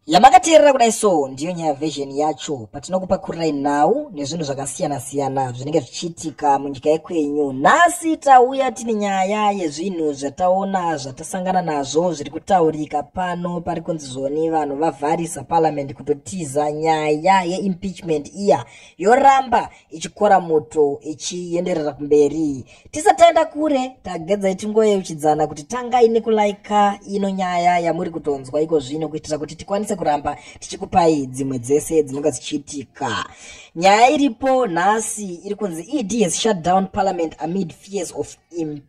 yamakateerera kudai so ndiyo nyaya version yacho patinokupakurirai nhau nezvinhu zvakasiyana siyana zvinenge zvichiitika munyika yekwenyu nhasi tauya tine nyaya yezvinhu zvataona zvatasangana nazvo zviri kutaurika pano pari kunzi zvoni vanhu vavharisa parliament kutotiza nyaya yeimpeachment iya yoramba ichikora moto ichienderera kumberi tisataenda kure tagedzai tingoyeuchidzana kuti tangai nekulaika ino nyaya yamuri kutonzwa iko zvino kuitira kuti tikwanise kuramba tichikupai dzimwe dzese dzinonga dzichiitika nyaya iripo nhasi iri kunzi ed has shut down parliament amid fears of imp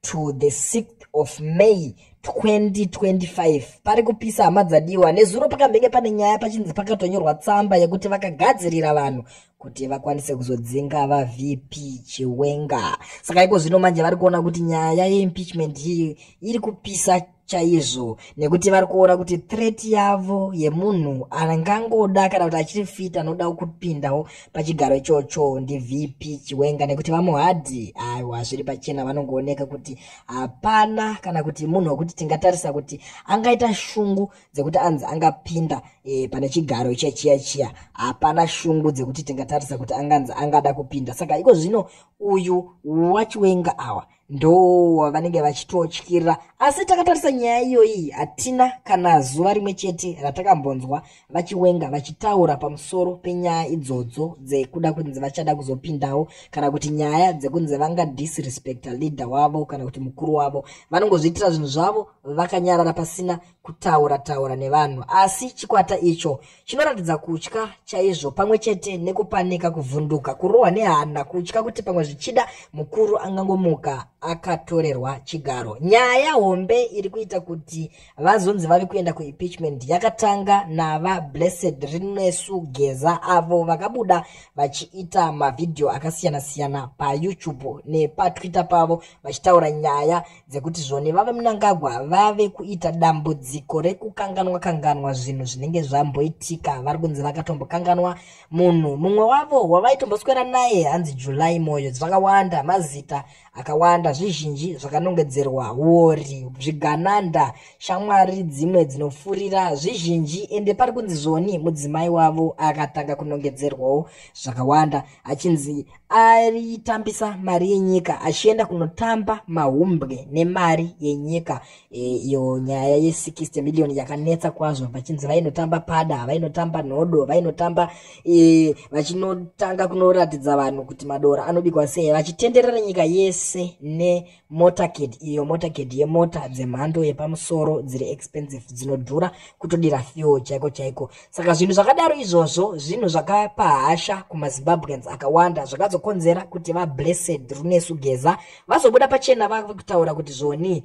to the 6th of may 2025 pari kupisa hama dzadiwa nezuro pakambenge pane nyaya pachinzi pakatonyorwa tsamba yekuti vakagadzirira vanhu kuti vakwanise kuzodzinga vavp chiwenga saka iko zvino manje vari kuona kuti nyaya yeimpeachment iyi iri kupisa chaizvo nekuti vari kuona kuti threat yavo yemunhu angangoda kana kuti achiri fit anoda kupindawo pachigaro ichocho ndivp chiwenga nekuti vamuhadhi aiwa zviri pachena vanongooneka kuti hapana kana kuti munhu wekuti tingatarisa kuti angaita shungu dzekuti anzi angapinda e, pane chigaro ichiya chiya chiya hapana shungu dzekuti tingatarisa kuti anganzi angada kupinda saka iko zvino uyu wachiwenga awa ndo vanenge vachitotyira asi takatarisa nyaya iyoyi hatina kana zuva rimwe chete ratakambonzwa vachiwenga vachitaura pamusoro penyaya idzodzo dzekuda kunzi vachada kuzopindawo kana kuti nyaya dzekunzi vanga disrespecta leader wavo kana kuti mukuru wavo vanongozviitira zvinhu zvavo vakanyarara pasina kutaura taura nevanhu asi chikwata icho chinoratidza kutya chaizvo pamwe chete nekupanika kuvhunduka kurohwa nehana kutya kuti pamwe zvichida mukuru angangomuka akatorerwa chigaro nyaya hombe iri kuita kuti vazonzi vave kuenda kuimpeachment yakatanga nava blessed rinesu geza avo vakabuda vachiita mavhidhiyo akasiyana-siyana payoutube nepatwitter pavo vachitaura nyaya dzekuti zvone vavemunangagwa vave kuita dambudziko rekukanganwa kanganwa zvinhu zvinenge zvamboitika vari kunzi vakatombokanganwa munhu mumwe wavo wavaitomboswera naye hanzi july moyo zvakawanda mazita akawanda zvizhinji zvakanongedzerwa wori zvigananda shamwari dzimwe dzinofurira zvizhinji ende pari kunzi zvoni mudzimai wavo akatanga kunongedzerwawo zvakawanda achinzi aitambisa mari yenyika achienda kunotamba mahumbwe nemari yenyika e, iyo e, nyaya ye 60 million yakanetsa kwazvo vachinzi vainotamba pada vainotamba nhodo vainotamba e, vachinotanga kunoratidza vanhu kuti madora anobikwa sei vachitenderera nyika yese ne motorcade iyo motorcade yemota dzemhando yepamusoro dziri expensive dzinodhura kutodira fuel chaiko chaiko saka zvinhu zvakadaro izvozvo zvinhu zvakapa hasha kumazimbabweans akawanda zvakazokonzera kuti vablessed runesu geza vazobuda pachena vakutaura kuti zvonii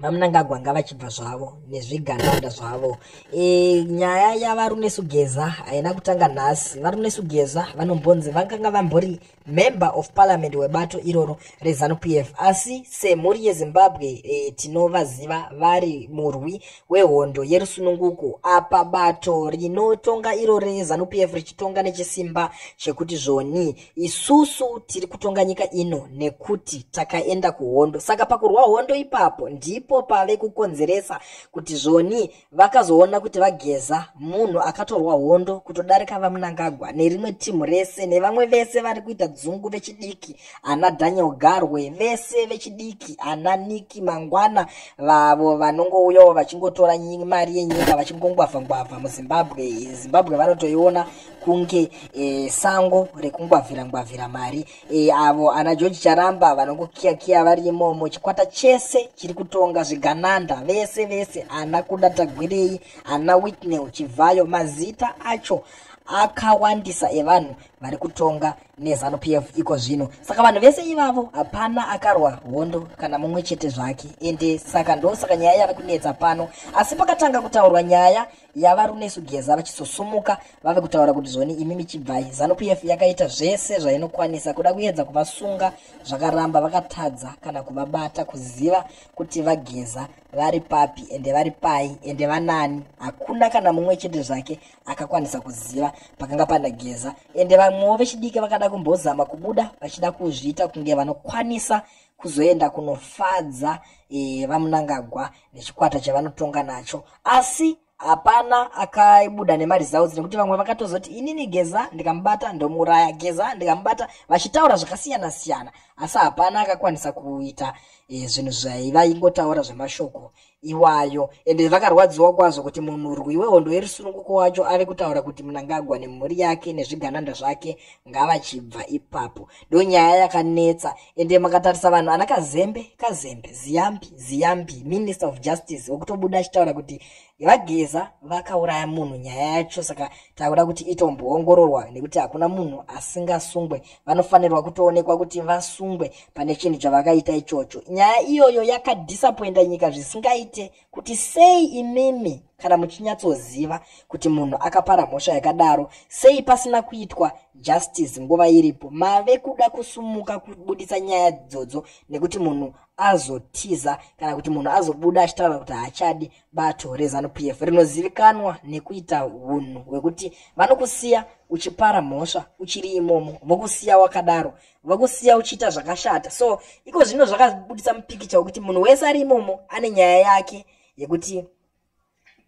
vamunangagwa ngavachibva zvavo nezvigananda zvavo e, nyaya yavaruneshugeza haina kutanga nhasi varuneshugeza vanombonzi vakanga vambori member of parliament webato iroro rezanup f asi semhuri yezimbabwe e, tinovaziva vari murwi wehondo yerusununguko apa bato rinotonga iro rezanup f richitonga nechisimba chekuti zvoni isusu tiri kutonga nyika ino nekuti takaenda kuhondo saka pakurwa hondo ipapo ndipo pave kukonzeresa kuti zvoni vakazoona kuti vageza munhu akatorwa hondo kutodarika vamunangagwa nerimwe timu rese nevamwe vese vari kuita dzungu vechidiki ana daniel garwe vese vechidiki ana niki mangwana vavo vanongouyawo vachingotora mari yenyika vachingongwavha ngwavha muzimbabwe zimbabwe vanotoiona kunge e, sango rekungwavhira ngwavhira mari e, avo ana george charamba vanongokiyakiya vari imomo chikwata chese chiri kutonga zvigananda vese vese ana kuda tagwirei ana witnel chivhayo mazita acho akawandisa evanhu vari kutonga nezanu p f iko zvino saka vanhu vese ivavo hapana akarwa hondo kana mumwe chete zvake ende saka ndosaka nyaya yava kunetsa pano asi pakatanga kutaurwa nyaya yava runesu geza vachisosumuka vave kutaura kuti zvoni imi michibvai zanupf yakaita zvese zvainokwanisa kuda kuedza kuvasunga zvakaramba vakatadza kana kuvabata kuziva kuti vageza vari papi ende vari pai ende vanani hakuna kana mumwe chete zvake akakwanisa kuziva pakanga pana geza ende vamwewo vechidiki vakada kumbozama kubuda vachida kuzviita kunge vanokwanisa kuzoenda kunofadza e, vamunangagwa nechikwata chavanotonga nacho asi hapana akabuda nemaresults nekuti vamwe vakatozoti inini geza ndikamubata ndomuuraya geza ndikamubata vachitaura zvakasiyana siyana asi hapana akakwanisa kuita e, zvinhu zvaiva ingotaura zvemashoko iwayo ende vakarwadziwa kwazvo kuti munhurwi wehondo yerusununguko wacho ave kutaura kuti mnangagwa nemhuri yake nezvigananda zvake ngavachibva ipapo ndo nyaya yakanetsa ende makatarisa vanhu ana kazembe kazembe ziyambi ziyambi minister of justice wekutobuda achitaura kuti vageza vakauraya munhu nyaya yacho saka takuda kuti itomboongororwa nekuti hakuna munhu asingasungwe vanofanirwa kutoonekwa kuti vasungwe pane chinhu chavakaita ichocho nyaya iyoyo yakadhisapoinda nyika zvisingaite kuti sei imimi kana muchinyatsoziva kuti munhu akapara mhosva yakadaro sei pasina kuitwa justice nguva iripo mave kuda kusumuka kubudisa nyaya dzodzo nekuti munhu azotiza kana kuti munhu azobuda achitaura kuti haachadi bato reZanu PF rinozivikanwa nekuita hunhu hwekuti vanokusiya uchipara mhosva uchiri imomo vokusiya wakadaro vokusiya uchiita zvakashata so iko zvino zvakabudisa mupikicha wekuti munhu wese ari imomo ane nyaya yake yekuti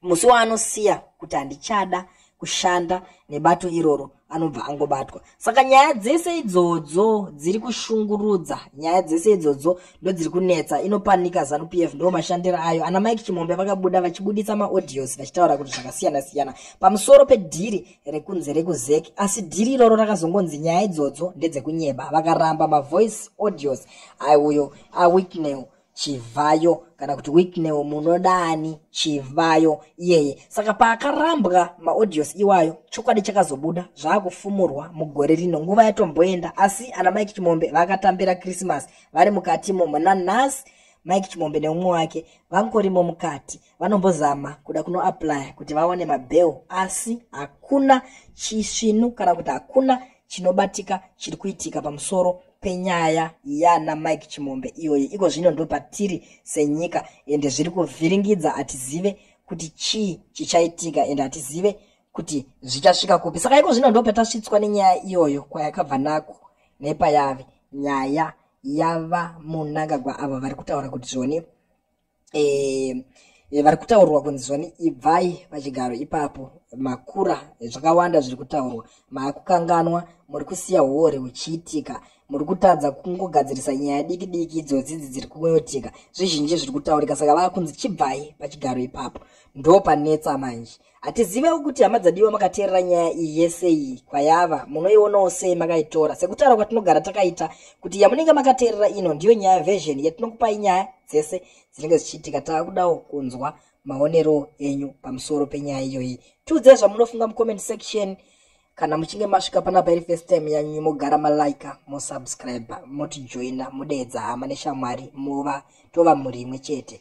musi waanosiya kuti handichada kushanda nebato iroro anobva angobatwa saka nyaya dzese idzodzo dziri kushungurudza nyaya dzese idzodzo ndodziri kunetsa inopanika zanu p f ndo mashandiro ayo ana mike chimombe vakabuda vachibudisa maaudios vachitaura kuti zvakasiyana siyana pamusoro pedhiri rekunze rekuzeki asi dhiri iroro rakazongonzi nyaya idzodzo ndedzekunyeba vakaramba mavoice audios aiuyo awiknew chivhayo kana kuti wiknewo munodani chivhayo iyeye saka paakarambwa maaudios iwayo chokwadi chakazobuda zvaakufumurwa mugore rino nguva yatomboenda asi ana mike chimombe vakatambira krismas vari mukatimo muna nhasi mike chimombe neumwe wake vangorimo mukati vanombozama kuda kunoaplya kuti vawane mabail asi hakuna chisvinu kana kuti hakuna chinobatika chiri kuitika pamusoro penyaya yana mike chimombe iyoyi iko zvino ndo patiri senyika ende zviri kuvhiringidza hatizive kuti chii chichaitika ende hatizive kuti zvichasvika kupi saka iko zvino ndo patasvitswa nenyaya iyoyo kwayakabva nako nepayave nyaya yava munangagwa avo vari kutaura kuti zvoni eh, eh, vari kutaurwa kunzi zvani ibvai pachigaro ipapo makura zvakawanda zviri kutaurwa maakukanganwa muri kusiya huori huchiitika muri kutadza kungogadzirisa nyaya diki diki idzodzi idzi dziri kungoyotika zvizhinji zviri kutaurika saka vaakunzi chibvai pachigaro ipapo ndo panetsa manje hatizivewo kuti hama dzadiwa makateerera nyaya iyi yese iyi kwayava munoionawo sei makaitora sekutaura kwatinogara takaita kuti yamunenge makateerera ino ndiyo nyaya version yatinokupai nyaya dzese dzinenge dzichiitika tava kudawo kunzwa maonero enyu pamusoro penyaya iyoyi tiudzei zvamunofunga mucomment section kana muchinge masvika panapa iri first time yanyu mogara malaika mosubscribe motijoina modeedza hama neshamwari mova tova mhuri imwe chete